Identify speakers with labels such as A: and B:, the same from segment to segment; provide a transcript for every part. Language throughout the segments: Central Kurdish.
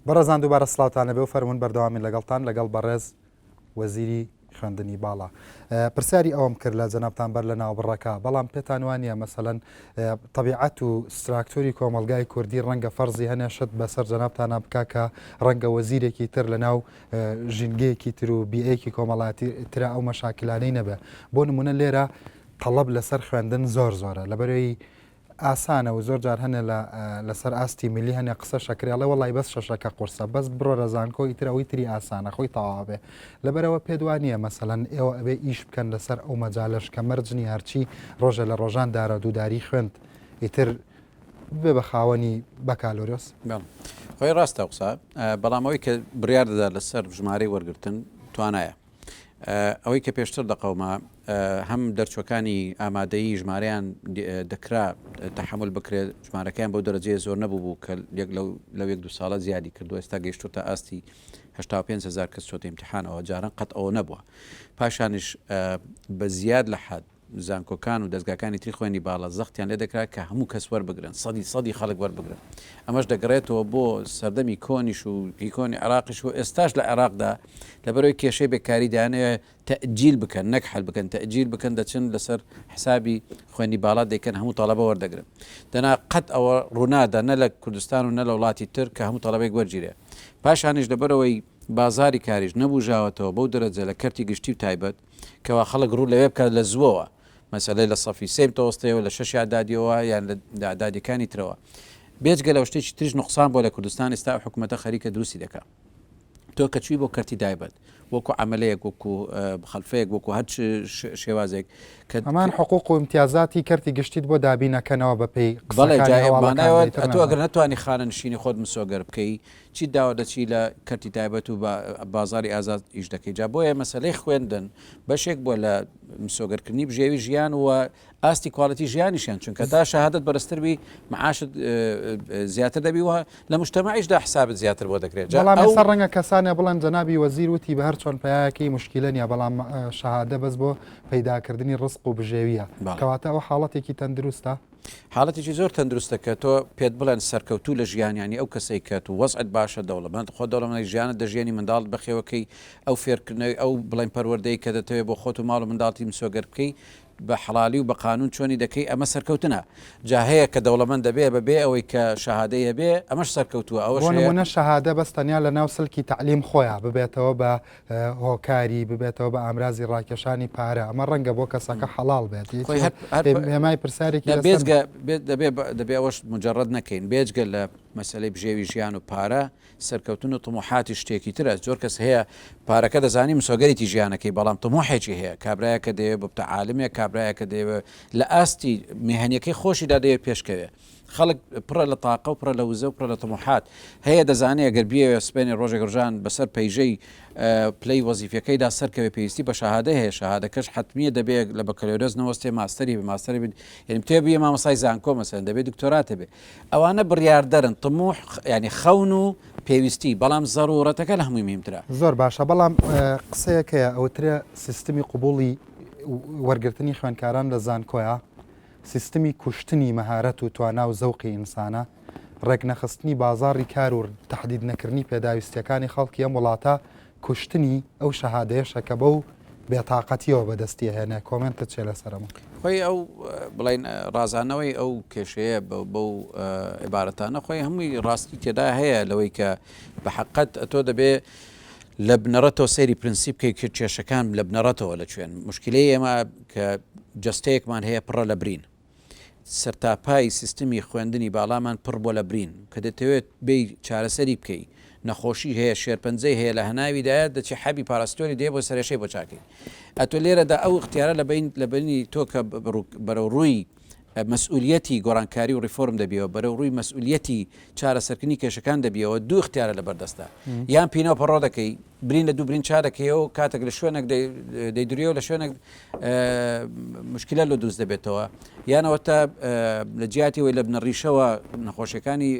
A: بەڕێزان دووبارە سڵاوتان لەبێ و فەرمونون بەردەوامی لەگەڵتان لەگەڵ بەڕێز وەزیری خوێندنی باڵا پرسیاری ئەوم کرد لە جەنابان بەر لە ناوبڕەکە بەڵام پێتان وانە مەسەەن طبیعەت و ستراکتۆری کۆمەلگای کوردی ڕەنگە فەرزی هەنێ شت بەسەر جەنابتانە بک کە ڕەنگە وەزیرێکی تر لە ناو ژینگەیەکی تر و بیەیەکی کۆمەڵاتی تررا ئەو مەشاکلانەی نەبێ بۆ نمونە لێرە طلب لەسەر خوێندن زۆر زۆرە لەبەرەوەی ئاسانە و زۆر جار هەنێ لە لە سەر ئاستی ملی هەنێ قسە شەکرێ ئەڵێ وەڵای بەس شەشەکە قورسە بەس بڕۆرە زانکۆ ئیتر ئەوەی تری ئاسانە خۆی تەواوەبێ لەبەرەوە پێت وا نییە مەسەلەن ئێوە ئەبێ ئیش بکەن لەسەر ئەو مەجالەش کە مەرج نییە هەرچی ڕۆژێ لە ڕۆژان دارە دووداری خوێند ئیتر بێ بە خاوەنی بەکالۆرۆس بەڵ خۆی
B: ڕاستە قسە بەڵام ئەوەی کە بڕیار دەدا لەسەر ژمارەی وەرگرتن توانایە. ئەوەی کە پێشتر دەقەوما هەم دەرچوەکانی ئامادەیی ژمارەیان دەکرا تەحمل بکرێت ژمارەکەیان بەو دەرەجەیە زۆر نەبوو بوو کە یەک لەو لە یەک دو ساڵە زیادی کردو ئێستا گەشتو تا ئاستی 5 هزار کەس چۆتە امتحانەوە جاران قەت ئەوە نەبووە پاشانش بە زیاد لە حد زانکۆکان و دەزگاکانی تری خوێندنی باڵا زەختیان لێ دەکرا کە هەموو کەس وەربگرن، سەدی سەدی خەڵک وەربگرن. ئەمەش دەگەڕێتەوە بۆ سەردەمی کۆنیش و هی کۆنی عێراقیش و ئێستاش لە عێراقدا لەبەرئەوەی کێشەی بێکاری دەیانەوێ تەئجیل بکەن نەک حەل بکەن تەئجیل بکەن دەچن لەسەر حسابی خوێندنی باڵا دەیکەن هەموو تەڵەبە وەردەگرن دەنا قەت ئەوە ڕوونادا نە لە کوردستان و نە لە وڵاتی تر کە هەموو تەڵەبەیەک وەرگیرێ پاشانیش لەبەرئەوەی بازاری کاریش نەبووژاوەتەوە بەو دەرەجە لە کەرتی گشتی و تایبەت. کەوا خەڵک ڕوو لەوێ بکات لە زووەوە مەسەلەی لە سەفی سێی بتەوەستێەوە لە شەشی ئەعدادیەوە یان لە ئەعدادیەکانی ترەوە بێجگە لەوە شتێکی تریش نوقسان بۆ لە کوردستان ئێستا ئەو حکوومەتە خەریکە دروستی دەکا تۆ کە چووی بۆ کەرتی دایبەت وەکو عملەیەک وەکو خەلفەیەک وەکو هەر شێوازێک کە هەمان حقوق و
A: امتیازاتی کەرتی گشتیت بۆ دابینەکەنەوە بەپی قسەکانی هەواڵەکان
B: تۆ ئەگەر نەتوانی خانە نشینی خۆت مسۆگەر بکەی چیت داوە دەچی لە کەرتی تایبەت و بە بازاری ئازاد ئیش دەکەی جا بۆیە مەسەلەی خوێندن بەشێک بووە لە مسۆگەر کردنی بژێوی ژیان و ئاستی کوالیتی ژیانیشیان چونکە تا شەهادت بەرزتر بی معاشت زیاتر دەبی وە لە مشتمەعیشدا حسابت زیاتر بۆ دەکرێت جا بەڵام ئەو- ئێستا ڕەنگە کەسانە
A: بڵێن جەنابی وەزیر وتی بە هەر چۆن پیاکەی مشکیلە نیە بەڵام ئە، شەهادە بەس بۆ پەیداکردنی ڕزق و بژێویە بەڵێ. کەواتە ئەوە حاڵەتێکی تەندروستە حاڵەتێکی زۆر
B: تەندروستە کە تۆ پێت بڵێن سەرکەوتوو لە ژیان یانی ئەو کەسەی کە تو وەزعت باشە دەوڵەمەند خۆ دەوڵەمەندی ژیانت دەژیەنی منداڵت بەخێوەکەی ئەو فێرکردنەوەی ئەو بڵێن پەروەردەی کە دەتەوێ بۆ خۆت و ماڵ و منداڵتی مسۆگەر بکەی بە حەڵالی و بە قانون چۆنی دەکەی ئەمە سەرکەوتنە جا هەیە کە دەوڵەمەند دەبێ بە بێ ئەوەی کە شەهادەی هەبێ ئەمەش سەرکەوتووە ئەوەش بۆ هەیە نمونە شەهادە
A: بەس تەنیا لە ناو سلکی تەعلیم خۆیا ببێتەوە بە هۆکاری ببێتەوە بە ئامرازی ڕاکێشانی پارە ئەمە ڕەنگە بۆ کەسەکە حەڵال بێت هێمای پرسیارێکی بێزگە
B: دەبێ ئەوەش مجرڕەت نەکەین بێجگە لە مەسلەی بژێوی ژیان و پارە سەرکەوتن و تموحاتی شتێکی ترە زۆر کەس هەیە پارەکە دەزانی مسۆگەرێکی ژیانەکەی بەڵام تموحێکی هەیە کابراایەکە دەیە ببتە عالمێک کابراایەکە دەیەوە لە ئاستی میهنیەکەی خۆشیدا دەیە پێشکەوێت خەڵک پڕە لە تاقە و پڕە لە وزە و پڕە لە تەموحات هەیە دەزانێ گەر بیەوێ سبەینێ ڕۆژێک ڕژان بەسەر پەیژەی پلەی وەزیفیەکەیدا سەرکەوێ پێویستی بە شەهادە هەیە شەهادەکەش حتمیە دەبێت لە بەکەلۆرەس نەوەستێ ماستەری بە ماستەری بن یعنی پێ بێ مامەسای زانکۆ مەسەن دەبێت دکتۆراتە بێ ئەوانە بڕاردەرن تموح ینی خەون و پێویستی بەڵام زەرورەتەکە لە هەمووی مهمترە زۆر باشە بەڵام
A: قسەیەکەیە ئەوترە سیستمی قوبولی وەرگرتنی خوێنکاران لە زانکۆیە سیستمی کوشتنی مەهارەت و توانا و زەوقی ئینسانە، ڕێکنەخستنی بازاڕی کار و تەحدیدنەکردنی پێداویستییەکانی خەڵکی ئەم وڵاتە کوشتنی ئەو شەهادەیەشە کە بەو بێتاقەتییەوە بەدەستی ئەهێنێ. کۆمێنتت چییە لەسەر ئەمە؟ خۆی ئەو
B: بڵێین ڕازانەوەی ئەو کێشەیە بەو عیبارەتانە خۆی هەمووی ڕاستی تێدا هەیە لەوەی کە بەحەقەت ئەتۆ دەبێ لە بنەڕەتەوە سەیری پرنسی بکەی کە کێشەکان لە بنەڕەتەوە لە کوێن. موشکیلەی ئێمە کە جەستەیەکمان هەیە پڕە لە برین. سەرتاپای سیستمی خوێندنی باڵامان پڕ بووە لە برین. کە دەتەوێت بێی چارەسەری بکەی، نەخۆشی هەیە، شێرپەنجەی هەیە لە هەناویدایە، دەچی حەبی پاراستۆنی دەیە بۆ سەرێشەی بۆ چاکەی. ئەتۆ لێرەدا ئەو ئیختیارە لە بەینی تۆ کە بەرەوڕووی مەسئولیەتی گۆڕانکاری و ڕیفۆرم دەبیەوە بەرەو ڕووی مەسئولیەتی چارەسەرکردنی کێشەکان دەبیەوە دوو اختیارە لەبەر دەستە یان پینە و پەڕۆ دەکەی برین لە دوو برین چا دەکەیەوە کاتێک لە شوێنێک دەیدریەوە لە شوێنێک مشکلە لە دووست دەبێتەوە یانەوە تا لە جیاتی وی لە بنە ڕیشەوە نەخۆشیەکانی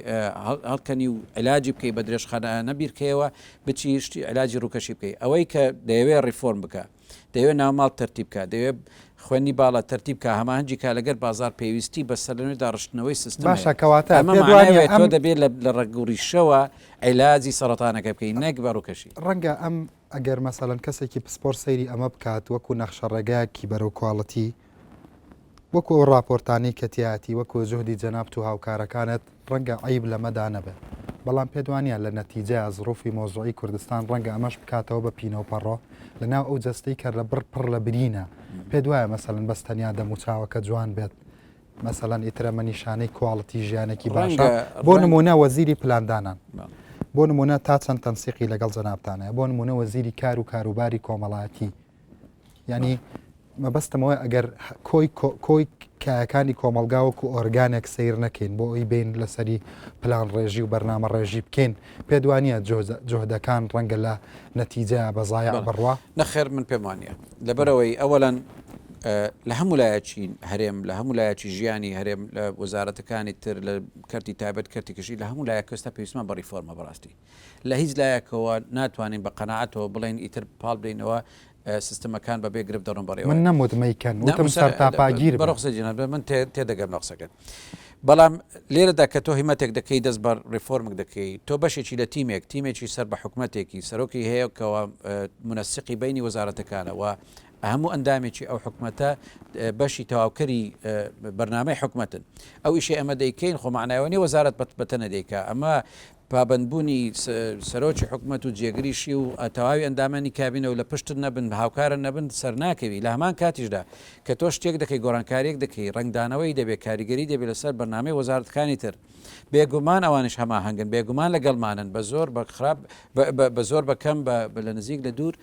B: هەڵکەنی و علاجی بکەی بە درێژخانە نەبیرکەیەوە بچی شتی علاجی ڕووکەشی بکەی ئەوەی کە دەیەوێ ڕیفۆرم بکە دەیەوێت ناوماڵ تەرتیب بکات، دەیەوێت خوێندنی باڵا تەرتیب بکات، هەماهەنگی کات لەگەر بازاڕ پێویستی بە سەرلەنوێ داڕشتنەوەی سیستم هەیە. باشە کەواتە ئەمە پێت مانای
A: وانیە ئەوەیە تۆ ئەم دەبێت
B: لە لە ڕەگ و ڕیشەوە عیلاجی سەڕەتانەکە بکەیت نەک بە ڕووکەشی. ڕەنگە ئەم
A: ئەگەر مەسەلەن کەسێکی پسپۆر سەیری ئەمە بکات وەکو نەخشە ڕێگایەکی بەرەو کواڵتی، وەکو ئەو ڕاپۆرتانەی کە تیایەتی وەکو جوهدی جەنابت و هاوکارەکانت ڕەنگە عەیب لەمەدا نەبێ بەڵام پێت وانیە لە نەتیجەیا زڕوفی مەوزوعی کوردستان ڕەنگە ئەمەش بکاتەوە بە پینەو پەڕۆ لە ناو ئەو جەستەی کە لە بڕ پڕ لە برینە پێت وایە مەسەلەن بەس تەنیا دەموو چاوەکە جوان بێت مەسەلەن ئیتر ئەمە نیشانەی کواڵتی ژیانێکی باشە بۆ نمونە وەزیری پلاندانان بۆ نمونە تا چەند تەنسیقی لەگەڵ جەنابتان هەیە بۆ نمونە وەزیری کار و کاروباری کۆمەڵایەتی ینی مەبەستمەوە ئەگەر کۆی کۆی کایەکانی کۆمەلگا وەکو ئۆرگانێک سیر نەکەین بۆ ئەوی بین لەسەری پلان ڕێژی و بەرنامە ڕێژی بکەین پێدوانە جۆهدەکان ڕەنگە لە نەتیجە بەزایع بڕوە نەخێر من پێم وانە
B: لەبەرەوەی ئەوەلەن لە هەموو لایەچین هەرێم لە هەموو لایەکی ژیانی هەرێم لە وەزارەتەکانی تر لە کەرتی تابەت کەرتی کشی لە هەموو لایە کەستا پێویستمان بە ریفۆرمە بەڕاستی لە هیچ لایەکەوە ناتوانین بە قەناعەتەوە بڵێین ئیتر پاڵ بدەینەوە سیستمەکان بە بێ گرفت دەڕۆن بەڕێوە. من نەموت مەیکەن، وتم
A: سەرتاپاگیر بن. بەڕوخسار جەناب، من
B: تێدەگەم لە قسەکەت. بەڵام لێرەدا کە تۆ هیمەتێک دەکەی دەست بە ڕێفۆرمک دەکەی، تۆ بەشێکی لە تیمێک، تیمێکی سەر بە حکومەتێکی، سەرۆکی هەیە کەوا مونەسیقی بەینی وەزارەتەکانە و هەموو ئەندامێکی ئەو حکومەتە بەشی تەواوکەری بەرنامەی حکومەتن. ئەو ئیشەی ئەمە دەیکەین خۆ معنایەوە نیە وەزارەت بەتەنە دەیکا. ئەمە پابەندبوونی سەرۆکی حکومەت و جێگریشی و تەواوی ئەندامانی کابینە و لە پشتت نەبن، هاوکارت نەبن سەرناکەوی، لە هەمان کاتیشدا کە تۆ شتێک دەکەی گۆڕانکاریەک دەکەی ڕەنگدانەوەی دەبێت کاریگەری دەبێت لەسەر بەرنامەی وەزارەتەکانی تر بێگومان ئەوانیش هەماهەنگن بێگومان لەگەڵمانن بە زۆر بە خراپ بە زۆر بە کەم بە لە نزیک لە دوور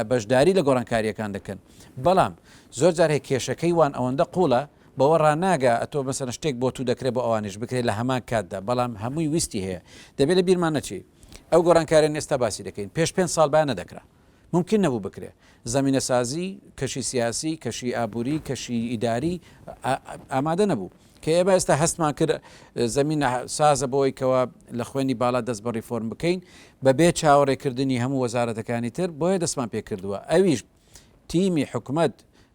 B: بەشداری لە گۆڕانکاریەکان دەکەن بەڵام زۆر جار هەیە کێشەکەی وان ئەوەندە قوڵە بەوە ڕاناگا ئەتۆ مەسەلەن شتێک بۆ توو دەکرێ بۆ ئەوانیش بکرێ لە هەمان کاتدا بەڵام هەمووی ویستی هەیە دەبێ لە بیرمان نەچی ئەو گۆرانکاریانەی ئێستا باسی دەکەین پێش پێنج ساڵ با نەدەکرا ممکن نەبوو بکرێ زەمینە سازی کەشی سیاسی کەشی ئابووری کەشی ئیداری ئامادە نەبوو کە ئێمە ئێستا هەستمان کرد زەمینە سازە بۆی کەەوە لە خوێنی باڵا دەست بە ریفۆرم بکەین بەبێ چاوەڕێکردنی هەموو وەزارەتەکانی تر بۆیە دەستمان پێ کردووە ئەویش بە تیمی حکومەت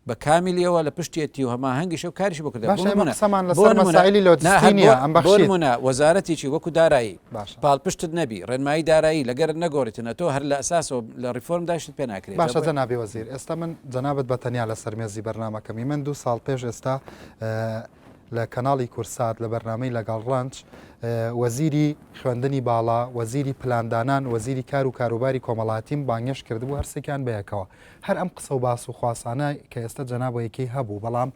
B: بە کامیلیەوە لە پشتێتی و هەماهەنگیشە و کاریش بکرێت باشە ئێمە قسەمان لەسەر مەسائلی لۆجستی نییە ئەم بەخشی بۆ نمونە وەزارەتێکی وەکو دارایی باشە پاڵپشتت نەبی ڕێنمایی دارایی لەگەرت نەگۆڕیتن ئەتۆ هەر لە ئەساسەوە لە ڕیفۆرم داشت پێ ناکرێت باشە جەنابی وەزیر
A: ئێستا من جەنابت بە تەنیا لەسەر مێزی بەرنمەکەمی من دوو ساڵ پێش ئێستا لە کەناڵی کورسات لە بەرنامەی لەگەڵ ڕەنج وەزیری خوێندنی باڵا وەزیری پلاندانان وەزیری کار و کاروباری کۆمەڵاتیم بانگێش کردبوو هەرسێکیان بەیەکەوە هەر ئەم قسە و باس و خواسانە کە ئێستا جەنابەیەکی هەبوو بەڵام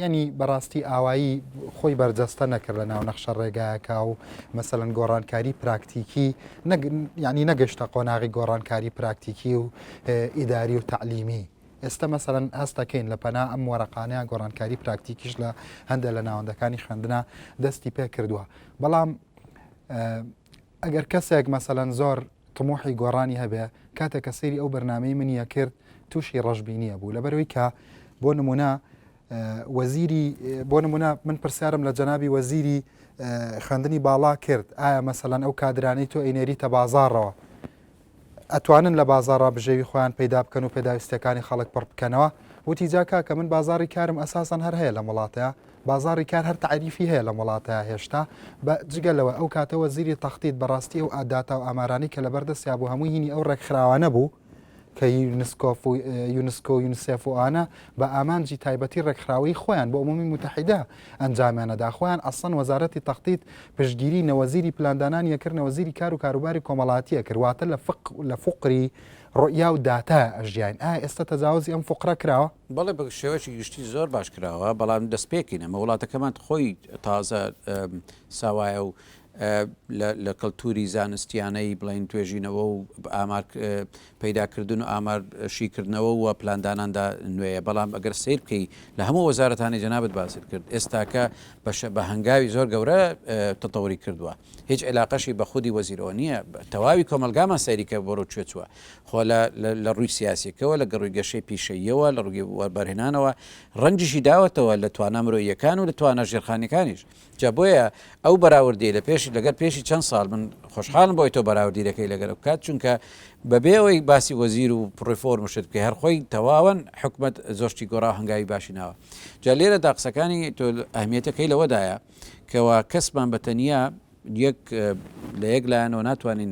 A: ینی بەڕاستی ئاوایی خۆی بەرجەستە نەکرد لە ناو نەخشە ڕێگایەکە و مەسەن گۆڕانکاری پراکتیکی ینی نەگەشتە قۆناغی گۆڕانکاری پراکتیکی و ئیداری و تعلیمی ئێستا مەسەلەن هەست دەکەین لە پەنا ئەم وەرەقانەیە گۆڕانکاری پراکتیکیش لە هەندێ لە ناوەندەکانی خوێندنا دەستی پێ کردووە بەڵام ئەگەر کەسێک مەسەلەن زۆر تمۆحی گۆڕانی هەبێ کاتێک کە سەیری ئەو بەرنمەی منیە کرد تووشی ڕژبینیە بوو لەبەرەوەی کە بۆ نمونە وەزیری بۆ نمونە من پرسیارم لە جەنابی وەزیری خوێندنی باڵا کرد ئایا مەسەلەن ئەو کادرانەی تۆ ئینێری تە بازارڕەوە ئەتوانن لە بازاڕا بژێوی خۆیان پەیدا بکەن و پێداویستیەکانی خەڵک پڕ بکەنەوە، وتی جا کاکە من بازاڕی کارم ئەساسەن هەر هەیە لەم وڵاتەیا، بازاڕی کار هەر تەعریفی هەیە لەم وڵاتەیا هێشتا، بە جگە لەوە ئەو کاتە وەزیری تەخدید بە ڕاستی ئەو ئا داتا و ئامارانەی کە لەبەر دەستیا بوو هەمووی هینی ئەو ڕێکخراوانە بوو کە یونسکۆف و یونسکۆ و یونسێف و ئانە بە ئامانجی تایبەتی ڕێکخراوەیی خۆیان بۆ ئەمومی موتەحیدە ئەنجامیانەدا خۆیان ئەسڵەن وەزارەتی تەخطیط پشتگیری نەوەزیری پلاندانان یەکرد نەوەزیری کار و کاروباری کۆمەڵاتی یەکرد واتە لە فق لە فقری ڕوئیا و داتا ئەژیاین ئایا ئێستا تەجاوزی ئەم فقرە کراوە؟ بەڵێ بە شێوەیەکی
B: گشتی زۆر باش کراوە بەڵام دەستپێکین ئەمە وڵاتەکەمان خۆی تازە ساوایە و لە کەڵتوری زانستیانەی بڵێن توێژینەوە و ئامار پەیداکردن و ئامار شیکردنەوە و پلانداناندا نوێیە بەڵام ئەگەر سەیر بکەی لە هەموو وەزارەتانەی جەنابت باست کرد ئێستاکە بەشە بە هەنگاوی زۆر گەورە تەتەوری کردوە هیچ عیلاقەشی بە خودی وەزیرەوە نیە تەواوی کۆمەلگامان سەیری کە بۆرۆ کوێ چوە خۆ لە لە ڕووی سیاسیەکەوە لە گەڕووی گەشەی پیشەییەوە لە ڕووی وەربەرهێنانەوە ڕەنجیشی داوەتەوە لە توانا مرۆییەکان و لە توانا ژێرخانیەکانیش جا بۆیە ئەو بەراوردیەی لە پێش لەگەر پێشی چەند ساڵ من خۆشحاڵم بۆی تۆ بەراوردی دەکەی لەگەر بکات چونکە بەبێ ئەوەی باسی وەزیر و پڕفۆرم شت بکە هەرخۆی تەواوەن حکومت زۆشتی گۆڕا هەنگاوی باشی ناوە جا لێرە دا قسەکانی تۆ ئەهمیەتەکەی لەوەدایە کەوا کەسمان بە تەنیا یەک لە یەک لایەنەوە ناتوانین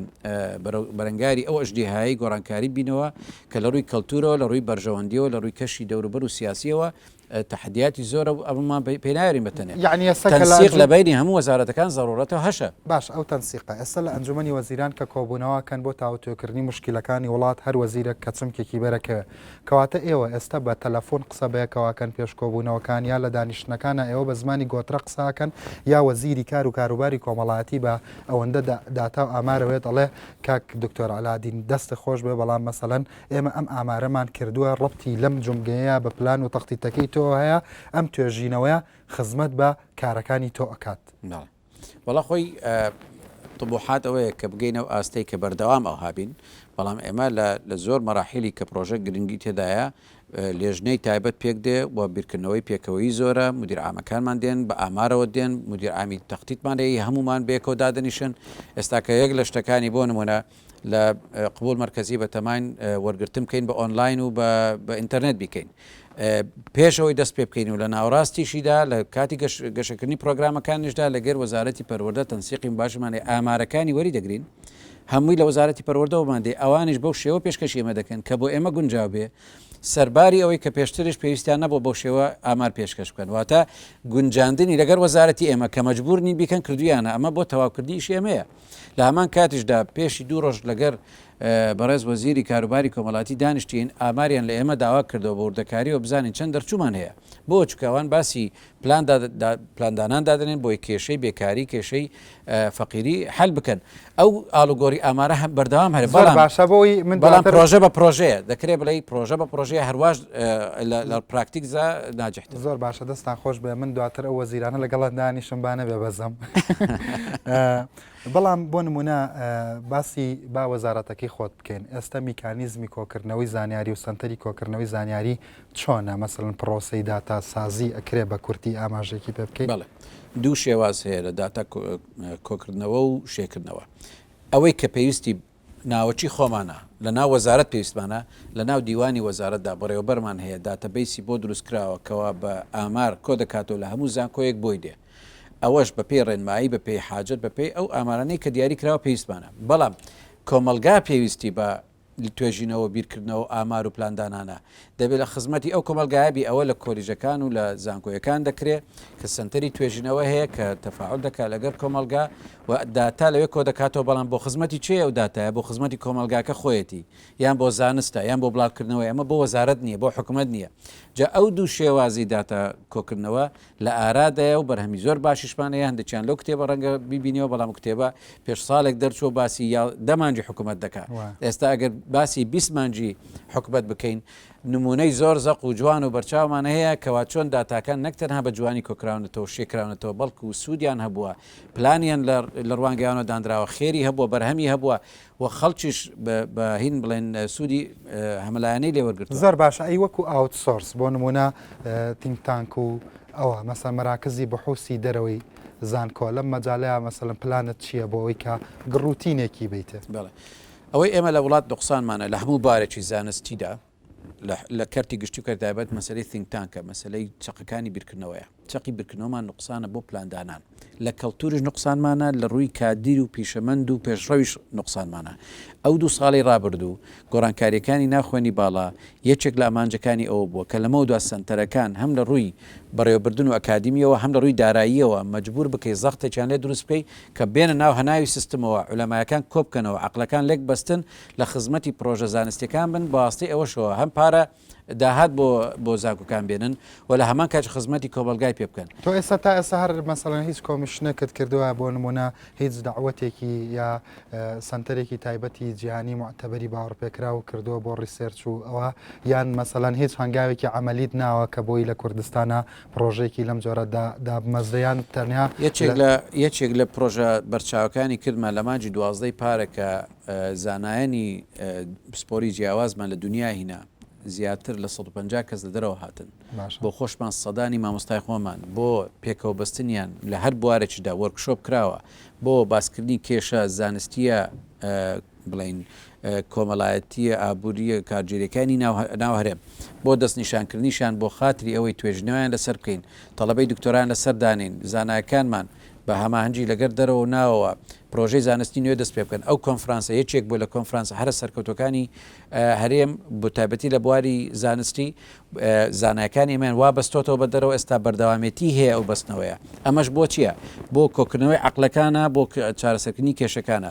B: بەرەنگاری ئەو ئەژدیهایی گۆڕانکاری بینەوە کە لە ڕووی کەلتورەوە لە ڕووی بەرژەوەندیەوە لە ڕووی کەشی دەوروبەر و سیاسیەوە تەحەدیاتی زۆرە و ئەمەمان پێ نایەرین بە تەنێ. یەعنی ئێستا کە لە تەنسیق ئەنجوم لە
A: بەینی هەموو
B: وەزارەتەکان زەروورەتە و هەشە. باشە ئەو تەنسیقە
A: ئێستا لە ئەنجومەنی وەزیران کە کۆبوونەوە ئەکەن بۆ تاوتوێکردنی موشکیلەکانی وڵات هەر وەزیرێک کە چمکێکی بەرە کەوێ. کەواتە ئێوە ئێستا بە تەلەفوون قسە بەیەکەوە ئەکەن پێش کۆبوونەوەکان یا لە دانیشتنەکانا ئێوە بە زمانی گۆترە قسە ئەکەن یا وەزیری کار و کاروباری کۆمەڵایەتی بە ئەوەندە داتا و ئامارەوێت ئەڵێ کاک دکتۆر عەلادین دەستت خۆش بێ بەڵام مەسەلەن ئێمە ئەم ئامارەمان کردووە ڕەبتی لەم جومگەیە بە پلان و تەختیتەکەی تۆ هەیە ئەم توێژینەوەیە خزمەت بە کارەکانی تۆ ئەکات وەڵا
B: خۆی طبوحات ئەوەیە کە بگەینە و ئاستەی کە بەردەوام ئەو هابین بەڵام ئێمە لە زۆر مەراحیلی کە پرۆژە گرنگی تێدایە لێژنەی تایبەت پێک دێ و بیرکردنەوەی پێکەوەی زۆرە مدیر ئامەکانمان دێن بە ئامارەوە دێن مدیر ئامی تەختیتمانەیە هەمومان بێکەوە دادنیشن ئێستاکە یەک لە شتەکانی بۆ نمونە لە قبول مەرکەزی بەتەماین وەرگرتن بکەین بە ئۆنلاین و بە ئینتەرنێت بیکەین پێش ئەوەی دەست پێ بکەین و لە ناوەڕاستیشیدا لە کاتی گەشەکردنی پرۆگرامەکانیشدا لەگەر وەزارەتی پەروەردە تەنسیقی باشمانێ ئامارەکانی وەری دەگرین هەمووی لە وەزارەتی پەروەردەوەمان دێ ئەوانش بەو شێوە پێشکەشی ئێمە دەکەن کە بۆ ئێمە گونجاو بێ سەرباری ئەوەی کە پێشترش پێویستیان نەبوو بەو شێوە ئامار پێشکەش بکەن واتە گونجاندنی لەگەر وەزارەتی ئێمە کە مەجبورنی بیکەن کردویانە ئەمە بۆ تەواوکردنیش ئێمەیە لە هەمان کاتیشدا پێشی دوو ڕۆژ لەگەر بەڕێز وەزیری کاروباری کۆمەڵاتی دانیشتین ئاماریان لە ئێمە داوا کردەوە بە وردەکاریەوە بزانین چەند دەرچوومان هەیە بۆ چکاوان باسی پلان پلاندانان دادنێن بۆی کێشەی بێکاری کێشەی فەقیری حل بکەن ئەو ئالوگۆری ئامارە هەم بەردەوام هەر بەڵام باشە بۆی من بەڵام پرۆژە بە پرۆژەیە دەکرێت بڵێ پرۆژە بە پرۆژەیە هەرواش لە پراکتیکزا ناجحت زۆر باشە دەستان
A: خۆش بێ من دواتر ئەو وەزیرانە لەگەڵ دانیشم بانە بێ بەزەم بەڵام بۆ نمونە باسی با وەزارەتەکەی خۆت بکەین ئێستا میکانیزمی کۆکردنەوەی زانیاری و سنتەری کۆکردنەوەی زانیاری چۆنە مەسەن پرۆسی داتا سازی ئەکرێ بە کورتی ئاماژێکی پێ بکەین بڵێ دوو شێواز
B: هەیە لە داتا کۆکردنەوە و شێکردنەوە ئەوەی کە پێویستی ناوەکی خۆمانە، لە ناو وەزارەت پێویستمانە، لە ناو دیوانی وەزارەتدا بەڕێوەبەرمان هەیە داتەبەیسی بۆ دروست کراوە کەوا بە ئامار کۆ دەکاتەوە لە هەموو زانکۆیەک بۆی دێ ئەوەش بە پێی ڕێنمایی بە پێی حاجەت بە پێی ئەو ئامارانەی کە دیاری کراوە پێویستمانە بەڵام کۆمەڵگا پێویستی بە توێژینەوە بیرکردنەوە ئامار و پلاندانانە دەبێت لە خزمەتی ئەو کۆمەلگایە بی ئەوە لە کۆلیژەکان و لە زانکۆیەکان دەکرێت کە سنتەری توێژینەوە هەیە کە تەفاعل دەکات لەگەر کۆمەلگا و داتا لەوێ کۆدەکاتەوە بەڵام بۆ خزمەتی کێ ئەو داتایە بۆ خزمەتی کۆمەڵگاکە خۆیەتی یان بۆ زانستە یان بۆ بڵاوکردنەوەی ئەمە بۆ وەزارەت نیە بۆ حکومەت نیە جا ئەو دوو شێوازی داتا کۆکردنەوە لە ئارادایە و بەرهەمی زۆر باشیشمان هەیە هەندێکیان لەو کتێبە ڕەنگە بیبینیەوە بەڵام کتێبە پێش ساڵێک دەرچووە باسی یا دە مانگی حکومەت دەکا ئێستا ئەگەر باسی بیست مانگی حکومەت بکەین نمونەی زۆر زەق و جوان و بەرچاومان هەیە کەوا چۆن داتاکان نەک تەنها بە جوانی کۆکراونەتەوە شێکراونەتەوە بەڵکو سوودیان هەبووە پلانیان لە ڕوانگەیانەوە دانراوە، خێری هەبووە، بەرهەمی هەبووە و خەڵکیش بە هین بڵێن سوودی هەمەلایەنەی لێ وەرگرتووە. زۆر باشە، ئەی وەکو
A: ئاوت سۆرس بۆ نموونە تینک تانک و ئەوە مەسەن مەراکزی بەحوسی دەرەوەی زانکۆ لەم مەجالەیە مەسەلەن پلانت چییە بۆ ئەوەی کە گڕوتینێکی بیتێ؟ بەڵێ، ئەوەی
B: ئێمە لە وڵات نوقسانمانە لە هەموو بارێکی زانستیدا، لە لە کەرتی گشتی و کەرتی تایبەت مەسەلەی ثینک تانکە، مەسەلەی چەقەکانی بیرکردنەوەیە. چەقی بیرکردنەوەمان نوقسانە بۆ پلاندانان. لە کەڵتوریش نوقسانمانە، لە ڕووی کادیر و پیشەمەند و پێشڕەویش نوقسانمانە. ئەو دوو ساڵەی ڕابردوو، گۆڕانکارییەکانی ناو خوێنی باڵا، یەکێک لە ئامانجەکانی ئەوە بووە، کە لەمەو دوا سەنتەرەکان هەم لە ڕووی بەڕێوەبردن و ئەکادیمییەوە، هەم لە ڕووی داراییەوە مەجبوور بکەی زەختێکیان لێ دروست بکەی، کە بێنە ناو هەناوی سیستمەوە، عولەمایەکان کۆ بکەنەوە، عەقڵەکان لێک بەستن، لە خزمەتی پڕۆژە زانستیەکان بن بەواستەی ئەوەشەوە هەم پارە داهات بۆ بۆ زانکۆکان بێنن و لە هەمان کاچ خزمەتی کۆمەلگای پێ بکەن تۆ ئێستا تا ئێستا هەر
A: مەسەڵەن هیچ کۆمیشنێکت کردووە بۆ نمونە هیچ داوەتێکی یا سنتەرێکی تایبەتی جیهانی معتەبەری باوەڕپێکرا و کردووە بۆ ڕیسێرچ و ئەوە یان مەسەلەن هیچ هەنگاوێکی ئەعملیت ناوە کە بۆی لە کوردستانە پرۆژێکی لەم جۆرەدا دابمەزریان تەنیا یەکێک لە یەکێک
B: لە پرۆژە بەرچاوەکانی کردمان لە مانجی دوازدەی پارەکە زانایانی پسپۆری جیاوازمان لە دونیا هینا زیاتر لە سەد و پەنجا کەس لە دەرەوە هاتن بۆ خۆشمان
A: سەدانی
B: مامۆستای خۆمان بۆ پێکەوە بەستنیان لە هەر بوارێکیدا وەرکشۆپ کراوە بۆ باسکردنی کێشە زانستیە بڵین کۆمەڵایەتیە ئابووریە کارگێریەکانی ناو هەرێم بۆ دەست نیشانکردنیشان بۆ خاتری ئەوەی توێژنەوەیان لەسەر بکەین تەڵەبەی دکتۆران لەسەر دانین زانایەکانمان بە هەماهەنگی لەگەر دەرەوە و ناوەوە پرۆژەی زانستی نوێ دەست پێ بکەن، ئەو کۆنفرانسە یەکێک بووە لە کۆنفرانسە هەرە سەرکەوتوەکانی هەرێم بە تایبەتی لە بواری زانستی، زانایەکانی ئێمەیان وا بەستۆتەوە بە دەرەوە ئێستا بەردەوامێتی هەیە ئەو بەستنەوەیە، ئەمەش بۆ چییە؟ بۆ کۆکردنەوەی عەقلەکانە بۆ چارەسەرکردنی کێشەکانە.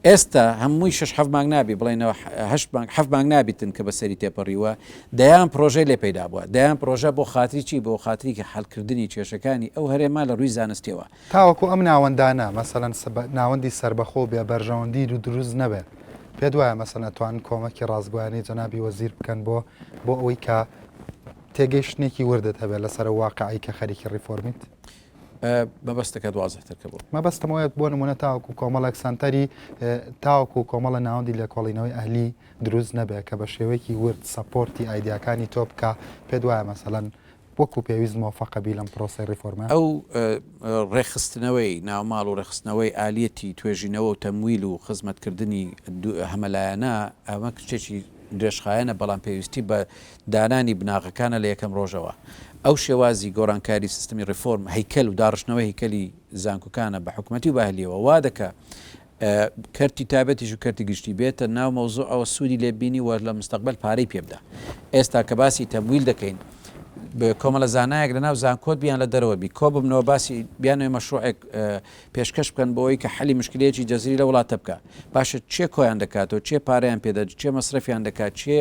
B: ئێستا هەمووی شەش حەفت مانگ نابی بڵێینەوە هەشت مانگ حەفت مانگ نابیتن کە بەسەری تێپەڕیووە دەیان پڕۆژەی لێ پەیدا بووە دەیان پڕۆژە بۆ خاتری چی بۆ خاتری حەلکردنی کێشەکانی ئەو هەرێمە لە ڕووی زانستیەوە. تاوەکو ئەم
A: ناوەندانە مەسەلەن ناوەندی سەربەخۆ و بێ بەرژەوەندی دروست نەبێ پێت وایە مەسەلەن ئەتوانن کۆمەکی ڕاستگۆیانەی جەنابی وەزیر بکەن بۆ بۆ ئەوەی کە تێگەیشتنێکی وردت هەبێ لەسەر ئەو واقعەی کە خەریکی ڕیفۆرمیت؟
B: مەبەستەکەت وازحتر کە بۆ مەبەستم ئەوەیە بۆ نمونە
A: تاوەکو کۆمەڵێک سەنتەری تاوەکو کۆمەڵە ناوەندی لێکۆڵینەوەی ئەهلی دروست نەبێت کە بە شێوەیەکی ورد سەپۆرتی ئایدیاکانی تۆ بکە پێت وایە مەسەلەن وەکو پێویست مۆفەقەبی لەم پرۆسی ڕیفۆرمە ئەو
B: ڕێکخستنەوەی ناوماڵ و ڕێکخستنەوەی ئالیەتی توێژینەوە و تەمویل و خزمەتکردنی هەمەلایەنە ئەمە کچێکی درێژخایەنە بەڵام پێویستی بە دانانی بناغەکانە لە یەکەم ڕۆژەوە. ئەو شێوازی گۆڕانکاری سیستمی ڕێفۆرم هەیکەل و داڕشتنەوەی هەیکەلی زانکۆکانە بە حکومەتی و بە ئەهلیەوە وا دەکا کەرتی تایبەتیش و کەرتی گشتی بێتە ناو مەوزوعەوە سوودی لێ ببینی و لە مستەقبەل پارەی پێ بدا. ئێستا کە باسی تەمویل دەکەین کۆمەڵە زانایەک لە ناو زانکۆت بی یان لە دەرەوە بی کۆ ببنەوە باسی بیانەوێ مەشروعێک پێشکەش بکەن بۆوەی کە حەلی مشکلەیەکی جەزری لە وڵاتە بکا باشە چێ کۆیان دەکاتەوە چێ پارەیان پێ دەدە چێ مەسرەفیان دەکا چێ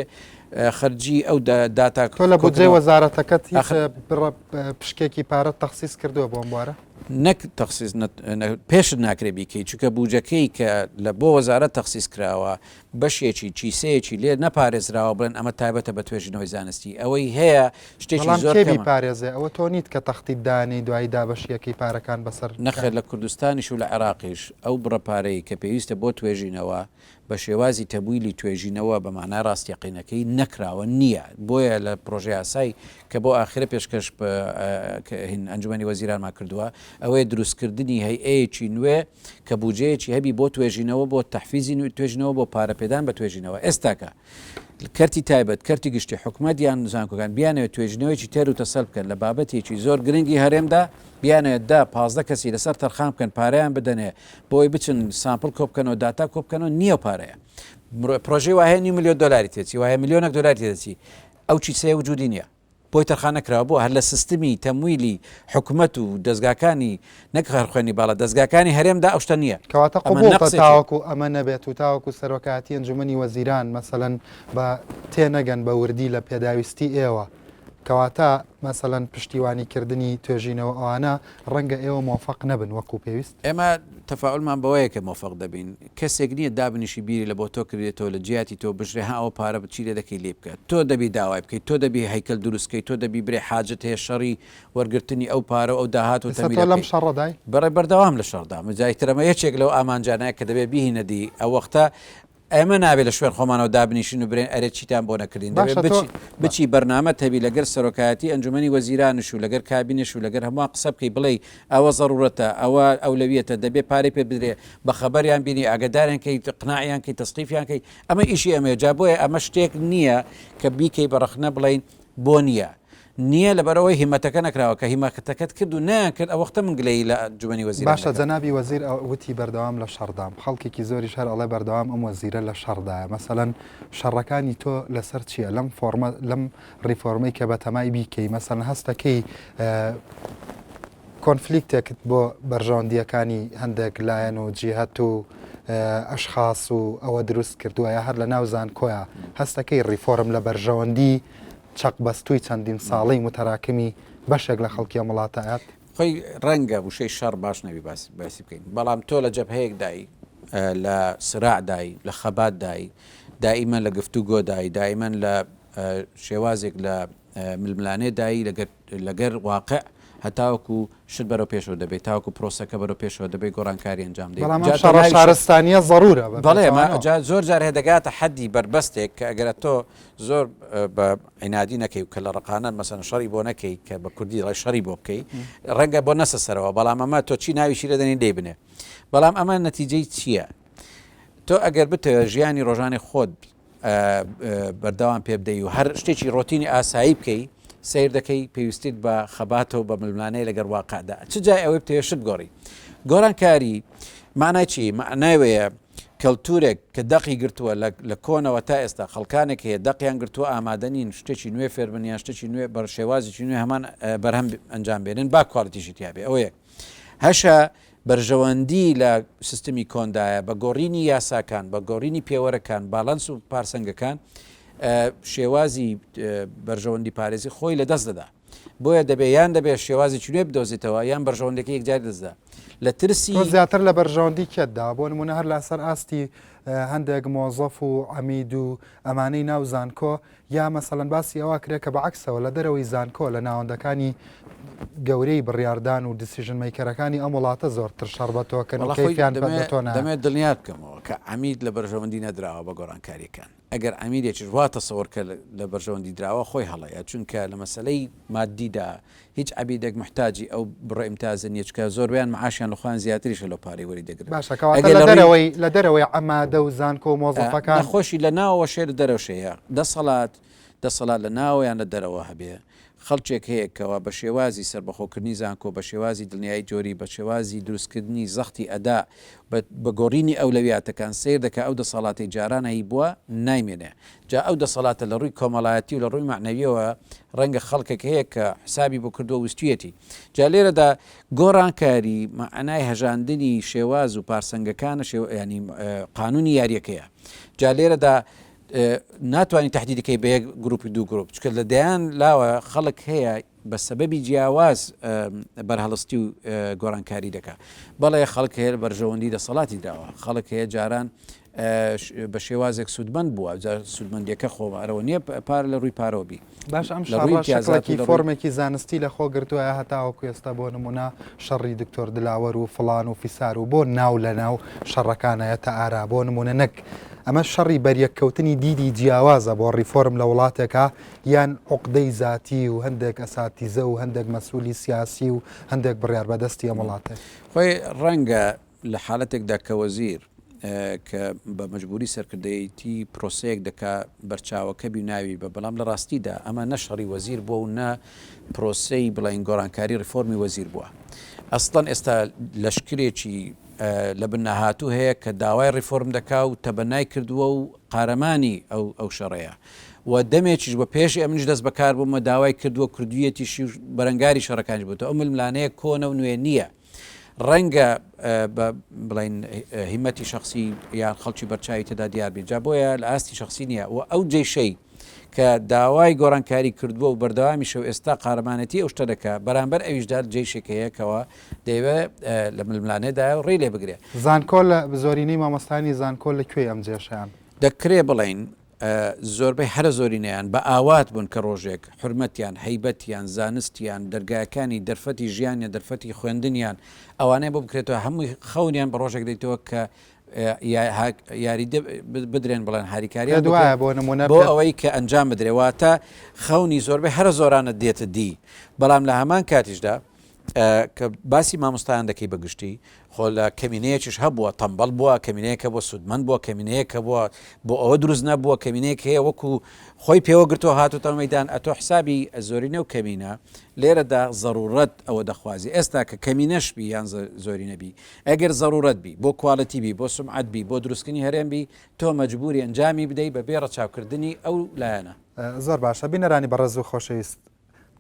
B: خەرجی ئەو داتا تۆ لە بودجەی
A: وەزارەتەکەت هیچ بڕە پشکێکی پارە تەخسیس کردووە بۆم بوارە نەک تەخسیز
B: پێشت ناکرێ بیکەی چونکە بوجەکەی کە لە بۆ وەزارە تەخسیز کراوە بەشێکی، کیسەیەکی، لێ نەپارێزراوە بڵێن ئەمە تایبەتە بە توێژینەوەی زانستی، ئەوەی هەیە شتێکی زۆر کەمە. بەڵام کێ بیپارێزێ؟ ئەوە تۆ
A: نیت کە تەختیت دانێی دوایی دابەشیەکەی پارەکان بەسەر. نەخێر لە کوردستانیش
B: و لە عێراقیش ئەو بڕە پارەی کە پێویستە بۆ توێژینەوە بە شێوازی تەمویلی توێژینەوە بە مەعنای ڕاستەقینەکەی نەکراوە نییە بۆیە لە پڕۆژەیاسای کە بۆ ئاخرە پێشکەش ئەنجومەنی وەزیرانمان کردووە ئەوەیە دروستکردنی هەیئەیەکی نوێ کە بوجەیەکی هەبی بۆ توێژینەوە بۆ تەحفیزی توێژینەوە بۆ پارە پێدان بە توێژینەوە ئێستاکە کەرتی تایبەت کەرتی گشتی حکومەت یان زانکۆکان بیانەوێت توێژینەوەیکی تێر و تەسەل بکەن لە بابەتێکی زۆر گرنگی هەرێمدا بیانەوێت دا پازدە کەسی لەسەر تەرخان بکەن پارەیان بدەنێ بۆی بچن سامپل کۆبکەنەوە داتا کۆبکەنەوە نییە پارەیە پرۆژەی وایە نی ملیۆن دلاری تێچی وایە ملیۆنە دلاری تێدەچی ئەو چیسەیە وجودی نییە بۆی تەرخانە کراوە بۆ هەر لە سستمی تەمویلی حکومەت و دەزگاکانی نەک هەر خوێنی باڵا دەزگاکانی هەرێمدا ئەو شتە نییە کەواتە ئەمە قبوڵتە نەقسێکی
A: تاوەکو ئەمە نەبێت و تاوەکو سەرۆکایەتی ئەنجومەنی وەزیران مەسەلەن بە تێنەگەن بە وردی لە پێداویستی ئێوە کەواتە مەسەلەن پشتیوانی کردنی توێژینەوە ئەوانە ڕەنگە ئێوە مۆفەق نەبن وەکو پێویست؟ ئێمە تەفائولمان
B: بەوەیە کە مۆفەق دەبین. کەسێک نییە دابنیشی بیری لە بۆ تۆ کردێتەوە، لە جیاتی تۆ بژرێ، ها ئەوە پارە چی لێ دەکەی لێی بکە. تۆ دەبی داوای بکەی، تۆ دەبی هەیکەل دروست کەی، تۆ دەبی برێ حاجەت هەیە شەڕی وەرگرتنی ئەو پارە و ئەو داهات و تەمیلە بکەی.
A: بەڕێ بەردەوام لە
B: شەڕدام. جا ئیتر ئەمە یەکێک لەو ئامانجانەیە کە دەبێ بیهینە دی. ئەوەختە. ئێمە نابێ لە شوێن خۆمانەوە دابنیشین و برێن ئەرێ چیتان بۆ نەکردین، دەبێ بچی بچی بەرنامەت هەبی لەگەر سەرۆکایەتی ئەنجومەنی وەزیرانش و لەگەر کابینەش و لەگەر هەمووان قسە بکەی بڵێی ئەوە زەرورەتە ئەوە ئەولەویەتە دەبێ پارەی پێ بدرێ بە خەبەریان بینی ئاگەداریان کەی قناعیان کەی تەسقیفیان کەی ئەمە ئیشی ئەمەیە جا بۆیە ئەمە شتێک نییە کە بیکەی بە رەخنە بڵێین بۆ نیە؟ نیە لەبەرئەوەی هیمەتەکە نەکراوە، کە هیمەتەکەت کرد و نەیانکرد ئەوەختە من گلەیی لە ئەنجومەنی وەزیران دەکەم. باشە جەنابی وەزیر
A: ئە وتی بەردەوام لە شەڕدام خەڵکێکی زۆریش هەر ئەڵێ بەردەوام ئەم وەزیرە لە شەڕدایە مەسەلەن شەڕەکانی تۆ لەسەر چیە لەم فۆڕمە لەم ڕیفۆرمەی کە بەتەمای بیکەی مەسەلەن هەستەکەی کۆنفلیکتێکت بۆ بەرژەوەندییەکانی هەندێک لایەن و جیهەت و ئەشخاس و ئەوە دروست کردووە یا هەر لە ناو زانکۆیە هەستەکەی ڕیفۆرم لە بەرژەوەندی چەق بەستووی چەندین ساڵەی متەراکمی بەشێک لە خەڵکی ئەم وڵاتەیە؟ خۆی ڕەنگە
B: وشەی شەڕ باش نەبی باسی بکەین، بەڵام تۆ لە جەبهەیەکدای، لە سراعدای، لە خەباتدای، دائیمەن لە گفتوگۆدای، دائیمەن لە شێوازێک لە ململانێدای لەگەر لەگەر واقع هەتاوەکو شت بەرەو پێشەوە دەبێت تاوەکو پرۆسەکە بەرەو پێشەوە دەبێت گۆڕانکاری ئەنجام دەیت بەڵام ئەم جا تۆ شەڕە ناوی شە شارستانیە
A: زەڕورە بە بەڵێ ما پێچەوانەوە. جا
B: زۆر جار هەیە دەگاتە حەدی بەربەستێک کە ئەگەر ئەتۆ زۆر بە عینادی نەکەی و کەللە ڕەقانە مەسەن شەڕی بۆ نەکەی کە بە کوردی دەڵێ شەڕی بۆ بکەی ڕەنگە بۆ نەسە سەرەوە بەڵام ئەمە تۆ چی ناوی چی لێ دەنێی لێی بنێ بەڵام ئەمە نەتیجەی چیە تۆ ئەگەر بتەوێ ژیانی ڕۆژانەی خۆت بەردەوام پێ بدەی و هەر شتێکی ڕۆتینی ئاسایی بکەی، سەیر دەکەی پێویستیت بە خەباتە و بە ململانێ لەگەر واقعدا، چ جای ئەوەی بتەوێ شت بگۆڕی. گۆڕانکاری مەعنای چی؟ مەعنای وەیە کەلتورێک کە دەقی گرتووە لە کۆنەوە تا ئێستا، خەڵکانێک هەیە دەقیان گرتووە ئامادە نین شتێکی نوێ فێر بن یان شتێکی نوێ بە شێوازێکی نوێ هەمان بەرهەم ئەنجام بێنن با کوالیتیشی تیابێ ئەوە یەک. هەشە بەرژەوەندی لە سیستمی کۆندایە، بە گۆڕینی یاساکان، بە گۆڕینی پێوەرەکان، باڵانس و پارسەنگەکان شێوازی بەرژەوەندی پارێزی خۆی لە دەست دەدا. بۆیە دەبێ یان دەبێ شێوازی چنوێ بدۆزیتەوە یان بەرژەوەندەکە یەکجار دەستدا لە ترسی زیاتر لە بەرژەوەندی
A: کێتدا بۆ نمونە هەر لەسەر ئاستی هەندێک مۆزەف و عەمید و ئەمانەی ناو زانکۆ یا مەسەلەن باسی ئەوە کرێ کە بەعەکسەوە لە دەرەوەی زانکۆ لە ناوەندەکانی گەورەی بڕیاردان و دیسیژن مەیکەرەکانی ئەم وڵاتە زۆرتر شەڕ بە تۆ کەن و کەیفیان پەت بە تۆ نایە.
B: دەمەوێت دڵنیات بکەمەوە کە عەمید لە بەرژەوەندی نەدراوە بە گۆڕانکارییەکان. ئەگەر عەمیدێکیش وا تەسەوەر کە لە بەرژەوەندی دراوە خۆی هەڵەیە، چونکە لە مەسەلەی ماددیدا هیچ عەبیدەک محتاجی ئەو بڕە ئیمتازە نیە چونکە زۆربەیان معاشیان لە خۆیان زیاتریشە لەو پارەی وەری دەگرن باشە کەواتە ئەگەر لە لە ڕوی دەرەوەی
A: لە دەرەوەی عەمادە و زانکۆ و ئا مۆزەفەکان نەخۆشی لە ناوەوە شێ
B: لە دەرەوە شێیە دەسەڵات دەسەڵات لە ناوەوە یان لە دەرەوە هەبێ خەڵکێک هەیە کەوا بە شێوازی سەربەخۆ کردنی زانکۆ بە شێوازی دڵنیایی تیۆری بە شێوازی دروست کردنی زەختی ئەدا بە بە گۆڕینی ئەولەویاتەکان سەیر دەکا ئەو دەسەڵاتەی جاران هەیبوە نایمێنێ جا ئەو دەسەڵاتە لە ڕووی کۆمەڵایەتی و لە ڕووی مەعنەویەوە ڕەنگە خەڵکێک هەیە کە حسابی بۆ کردووە و ویستوویەتی. جا لێرەدا گۆڕانکاری مەعنای هەژاندنی شێواز و پارسەنگەکانە شێوا یانی قانوونی یاریەکەیە. جا لێرەدا ناتوانی تەحدیدی کەی بە یەک گرووپ و دوو گرووپ چونکە لە دەیان لاوە خەڵک هەیە بە سەبەبی جیاواز بەرهەڵستی و گۆڕانکاری دەکا بەڵێ خەڵک هەیە بەرژەوەندی دەسەڵاتی دراوە خەڵک هەیە جاران بە شێوازێک سوودمەند بووە جا سوودمەندیەکە خۆمارەوە نییە پار لە ڕووی پارۆبی باش ئەم
A: شڕیزاکی فۆرمێکی زانستی لە خۆ گرتووە هەتاوە کوێستا بۆ نمونە شەڕی دکتۆر دلاوەر و فلان و فیسار و بۆ ناو لە ناو شەڕەکانایە تا ئارا بۆ نمونە نەک ئەمە شەڕی بەریەککەوتنی دیدی جیاوازە بۆ ڕیفۆرم لە وڵاتێکە یان عوقدەی زاتی و هەندێک ئەساتیزە و هەندێک مەسولی سیاسی و هەندێک بڕیار بەدەستی ئەم وڵاتە. خۆی ڕەنگە
B: لە حالەتێکدا کە وەزیر کە بە مەجبوری سەرکردەیەتی پرۆسەیەک دەکا بەرچاوەکە بی ناوی بە بەڵام لە ڕاستیدا ئەمە نە شەڕی وەزیر بوە و نە پرۆسەی بڵێین گۆڕانکاری ڕیفۆرمی وەزیر بوە ئەسڵەن ئێستا لەشکرێکی لە بن نەهاتو هەیە کە داوای ڕیفۆرم دەکا و تەبەنای کردوە و قارەمانی ئەو ئەو شەڕەیە. و دەمێکیش بۆ پێش ئێمنیش دەست بەکار بووم و داوای کردووە کردوویەتیشی و بەرەنگاری شەڕەکانیش بووتەوە. ئەو ململانێیە کۆنە و نوێ نییە. ڕەنگە بە بڵێین هیمەتی شەخسی یان خەڵکی بەرچاوی تێدا دیار بێت، جا بۆیە لە ئاستی شەخسی نییە و ئەو جەیشەی کە داوای گۆڕانکاری کردووە و بەردەوامیشە و ئێستا قارەمانێتی ئەو شتە دەکا، بەرامبەر ئەویشدا جەیشێک هەیە کەوا دەیەوێ لە ململانێدایە و ڕێی لێ بگرێ. زانکۆ لە
A: زۆرینەی مامۆستایانی زانکۆ لە کوێی ئەم جێشەیان؟ دەکرێ بڵێین
B: زۆربەی هەرە زۆرینەیان بە ئاوات بوون کە ڕۆژێک حورمەتیان، هەیبەتیان، زانستیان، دەرگاکانی دەرفەتی ژیانیان، دەرفەتی خوێندنیان، ئەوانەیان بۆ بکرێتەوە، هەمووی خەونیان بە ڕۆژێک دێتەوە کە یاریدە بدرێن بڵێن هاریکاریان بکرێت بۆ نموونە بۆ ئەوەی کە ئەنجام بدرێت، واتە خەونی زۆربەی هەرە زۆرانە دێتە دی، بەڵام لە هەمان کاتیشدا کە باسی مامۆستایان دەکەی بە گشتی خۆ لە کەمینەیەکیش هەبووە تەمبەڵ بووە کەمینەیەکە بۆ سوودمەند بووە کەمینەیەکە بووە بۆ ئەوە دروست نەبووە کەمینەیەک هەیە وەکو خۆی پێوە گرتو هاتوتە مەدان ئەتۆ حسابی زۆرینە و کەمینە لێرەدا ضرورەت ئەوە دەخوازی ئێستا کە کەمینەش بی یان زۆری نەبی ئەگەر ضرورەت بی بۆ کوالەتی بی بۆ سمعات بی بۆ دروستکردنی هەرێم بی تۆ مەجبوری ئەنجامی بدەی بە بێ ڕەچاوکردنی ئەو لایەنە زۆر باشە
A: بینەرانی بەڕێز و خۆشەویست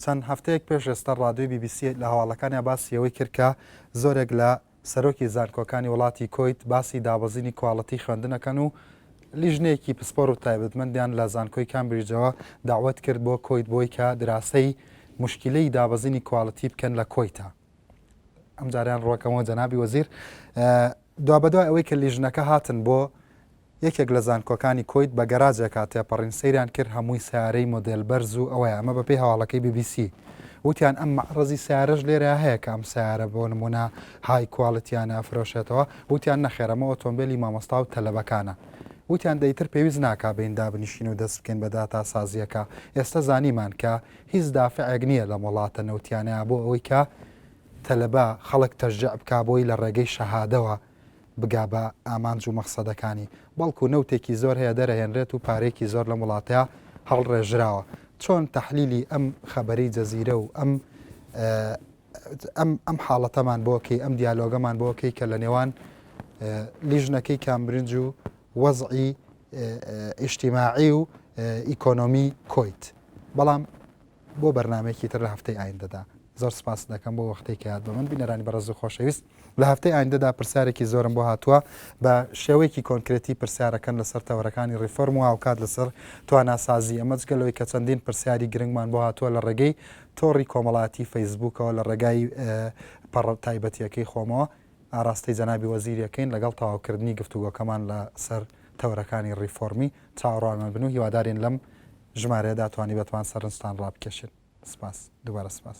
A: چەند هەفتەیەک پێش ئێستا ڕادیۆی بی بی سی لە هەواڵەکانیا باسی ئەوەی کرد کە زۆرێک لە سەرۆکی زانکۆکانی وڵاتی کوەیت باسی دابەزینی کواڵیتی خوێندن ئەکەن و لیژنەیەکی پسپۆر و تایبەتمەندیان لە زانکۆی کامبریجەوە دەعوەت کرد بۆ کوەیت بۆی کە دراسەی موشکیلەی دابەزینی کواڵیتی بکەن لە کوەیتا. ئەم جاریان ڕۆکەمەوە جەنابی وەزیر دوا بەدوای ئەوەی کە لیژنەکە هاتن بۆ یەکێک لە زانکۆکانی کۆیت بە گەراجێکا تێپەڕین سەیران کرد هەمووی سیارەی مۆدل بەرز و ئەوەیە ئەمە بەپی هەواڵەکەی BBC وتیان ئەم مەڕزی سیارەش لێرە هەیە کە ئەم سیارە بۆ نمونە های کوالتیانە فرۆشێتەوە وتیان نەخێرەمە ئۆتۆمبیلی مامۆستا و تەلەبەکانە وتیان دەیتر پێویست ناکا بین دابنیشین و دەست بکەین بە داتا سازیەکە ئێستا زانیمان کە هیچ دافعێک نییە لەم وڵاتە نەوتیانەیا بۆ ئەوەی کە تەلەبە، خەڵک تەشجیع بکا بۆی لە ڕێگەی شەهادەوە بگا بە ئامانج و مەخسەدەکانی، بەڵکو نەوتێکی زۆر هەیە دەرەهێنرێت و پارەیەکی زۆر لەم وڵاتەیا هەڵڕێژراوە. چۆن تەحلیلی ئەم خەبەرەی جەزیرە و ئەم ئەم ئەم حاڵەتەمان بۆ کەی، ئەم دیالۆگەمان بۆ کەی کە لە نێوان لیژنەکەی کامبرنج و وەزعی ئیجتیماعی و ئیکۆنۆمی کۆیت بەڵام بۆ بەرنمەیەکی تر لە هەفتەی ئایندەدا زۆر سپاس دەکەم بۆ وەختێک کە یاد بە من بینەرانی بەڕز و خۆشەویست لە هەفتەی ئایندەدا پرسیارێکی زۆرم بۆ هاتووە بە شێوەیەکی کۆنکرێتی پرسیارەکەن لەسەر تەوەرەکانی ریفۆرم و هاوکات لەسەر تواناسازی ئەمە جگەلەوەی کە چەندین پرسیاری گرنگمان بۆ هاتووە لە ڕێگەی تۆڕی کۆمەڵاتی فەیسبوکەوە لە ڕێگای پەڕ تایبەتیەکەی خۆمەوە ئاراستەی جەنابی وەزیر ئەکەین لەگەڵ تەواوکردنی گفتوگۆکەمان لە سەر تەوەرەکانی ڕیفۆرمی، چاوەڕوانمان بن و هیوادارین لەم ژمارەیەدا توانیبتمان سەرنجتان ڕابکێشین. سپاس. دووبارە سپاس.